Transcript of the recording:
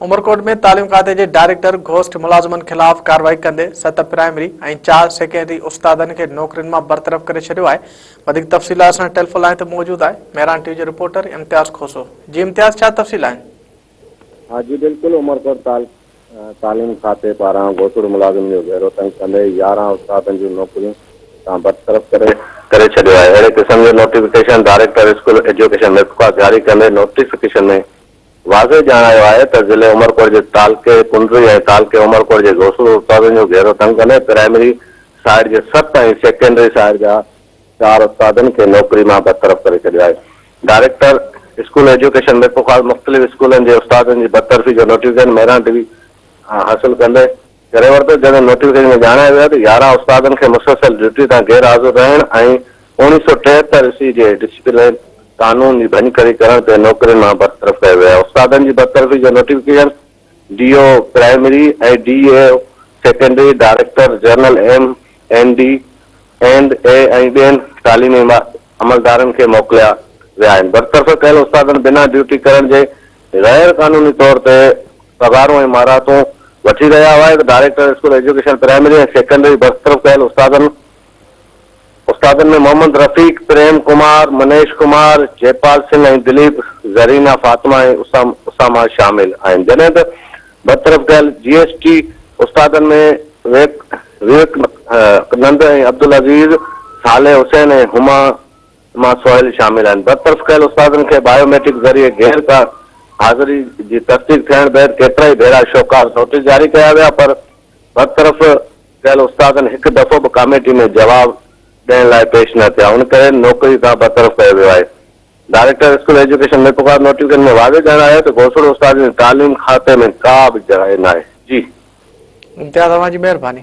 عمرڪوٽ ۾ تعليم کاتي جي ڊائريڪٽر گهوسٽ ملازمن خلاف ڪارروائي ڪندي ست پرائمري ۽ چار سيڪنڊري استادن کي نوڪرين مان برطرف ڪري ڇڏيو آهي وڌيڪ تفصيلات سان ٽيلفون لائين تي موجود آهي مهران ٽي جي رپورٽر امتياز کوسو جي امتياز ڇا تفصيل آهن ها جي بلڪل عمرڪوٽ تعليم کاتي پاران گهوٽڙو ملازمن جو گهيرو تنگ ڪندي يارهن استادن جون نوڪريون تان برطرف ڪري ڪري ڇڏيو آهي اهڙي قسم جو notification director school education Mirpurkhas جاري ڪندي نوٽيفڪيشن ۾ واضح ڄاڻايو آهي ته ضلعي عمرڪوٽ جي تعلقي ڪنري ۽ تعلقي عمرڪوٽ جي گهوسڙو استادن جو گهيرو تنگ ڪندي پرائمري سائيڊ جي ست ۽ سيڪنڊري سائيڊ جا چار استادن کي نوڪري مان برطرف ڪري ڇڏيو آهي، ڊائريڪٽر اسڪول ايجوڪيشن ميرپورخاص مختلف اسڪولن جي استادن جي برطرفي جو نوٽيفڪيشن مهراڻ ڊي وي کان حاصل ڪندي ڪري ورتو، جنهن ۾ نوٽيفڪيشن ۾ ڄاڻايو ويو آهي ته يارهن استادن کي مسلسل ڊيوٽي تان غير حاضر رهڻ ۽ اوڻيهه سؤ ٽيهتر عيسوي جي ڊسپلين قانون جي ڀڃڪڙي ڪرڻ تي نوڪرين مان برطرف ڪيو ويو آهي، استادن جي برطرفي جو notification. D O primary ۽ D E O secondary, director general M N D and E ۽ ٻين تعليمي عملدارن کي موڪليا ويا آهن. برطرف ڪيل استادن بنا ڊيوٽي ڪرڻ جي غير قانوني طور تي پگهارون ۽ مارهتون وٺي رهيا هئا. Director school education primary ۽ secondary برطرف ڪيل استادن استادن ۾ محمد رفيق، پريم ڪمار، منيش ڪمار، جئپال سنگهه ۽ دليپ، زرينا فاطمه ۽ اسامه شامل آهن جڏهن ته برطرف ڪيل جي ايس ٽي استادن ۾ وويڪ نند ۽ عبدالعزيز، صالح حسين ۽ هما هما سهيل شامل آهن. برطرف ڪيل استادن کي بايو ميٽرڪ ذريعي غير ڪا حاضري جي تصديق ٿيڻ بعد ڪيترائي ڀيرا شوڪاز نوٽيس جاري ڪيا ويا پر برطرف ڪيل استادن هڪ دفعو به ڪاميٽي ۾ جواب ڏيڻ لاء پيش نه ٿيا ان ڪري نوڪري تان برطرف ڪيو ويو آهي director school education Mirpurkhas notification ۾ واضح ڄاڻايو ته گوسڙو استادن جي تعليم کاتي ۾ ڪا به جاء ناهي جي امتياز اوهان جي مهرباني.